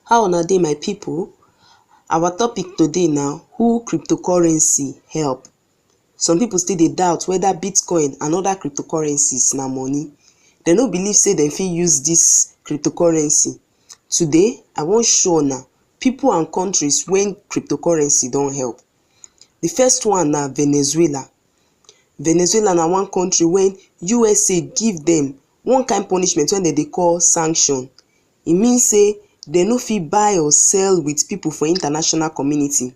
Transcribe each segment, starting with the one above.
How una dey my pipu? Our topic today na who crypto currency help. Some pipu still dey doubt whether bitcoin and other crypto currencies na money. Dem no believe sey dem fit use dis crypto currency. Today, I wan show una pipu and countries wey crypto currency don help. De first one na Venezuela. Venezuela na one country wey USA give dem one kain punishment wey dem dey call sanction. E mean say dem no fit buy or sell with people for international community.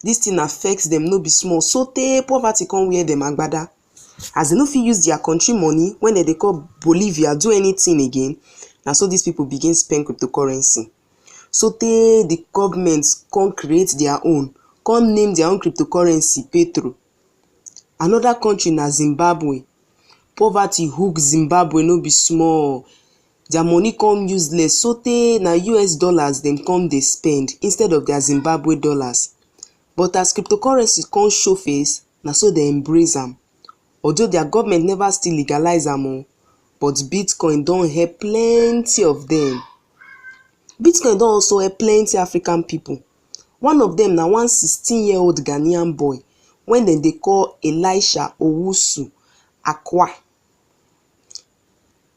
Dis thing affect dem no be small so tey poverty come wear dem agbada. As dem no fit use their country money wey dem dey call Bolivia do anything again, na so dis people begin spend cryptocurrency. So tey the government come create their own, come name their own cryptocurrency Petro. Another country na Zimbabwe. Poverty hook Zimbabwe no be small. Their money come useless sotey na us dollars dem come dey spend instead of their Zimbabwe dollars. But as cryptocurrency come show face, na so dem embrace am. Although their government never still legalize am o, but Bitcoin don help plenty of them. Bitcoin don also help plenty African people. One of them na one sixteen year old Ghanaian boy when dem dey call Elisha Owusu Akwa.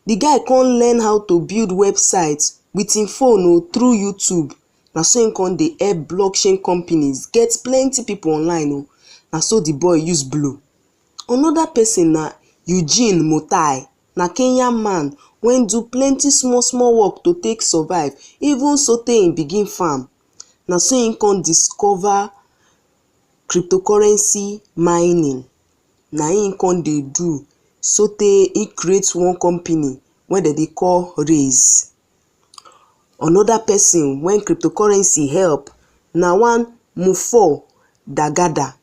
the guy come learn how to build website with him phone um through youtube na so him come dey help blockchain companies get plenty people online um na so the boy use blow another person na Eugene Mutai na Kenya man wey do plenty small small work to take survive even so tey him begin farm na so him come discover cryptocurrency mining na im e come dey do so tey e create one company wey dem dey call Raise. Another person wey cryptocurrency help na one Mopol Dagada,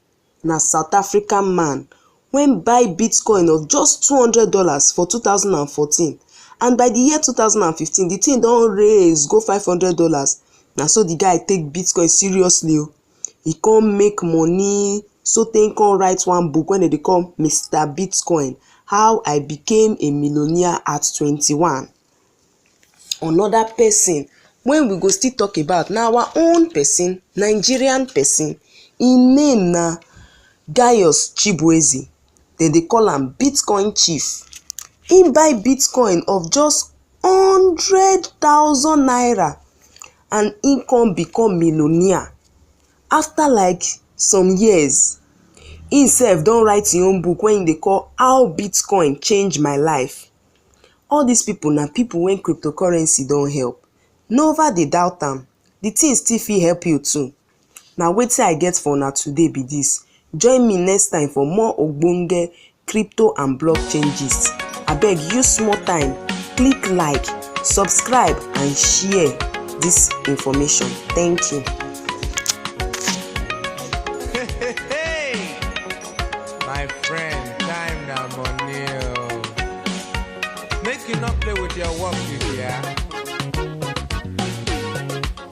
na South African man wey buy bitcoin of just two hundred dollars for two thousand and fourteen and by the year two thousand and fifteen the thing don raise go five hundred dollars na so the guy take bitcoin seriously o. e come make money so tey e come write one book wey dem dey call Mister Bitcoin how I became a millionaire at twenty one. Another person wey we go still talk about na our own person Nigerian person im name na Gayus Chibueze dem dey call am bitcoin chief him buy bitcoin of just hundred thousand naira and him come become millionaire after like some years him sef don write him own book wey him dey call how bitcoin change my life all this people na people wey cryptocurrency don help never dey doubt am the thing still fit help you too Na wetin I get for una today be this. Join me next time for more ogbonge crypto and blockchain gist. Abeg use small time, click like, subscribe and share this information. Thank you. My friend, time na money oh. Make you not play with your work, you hear?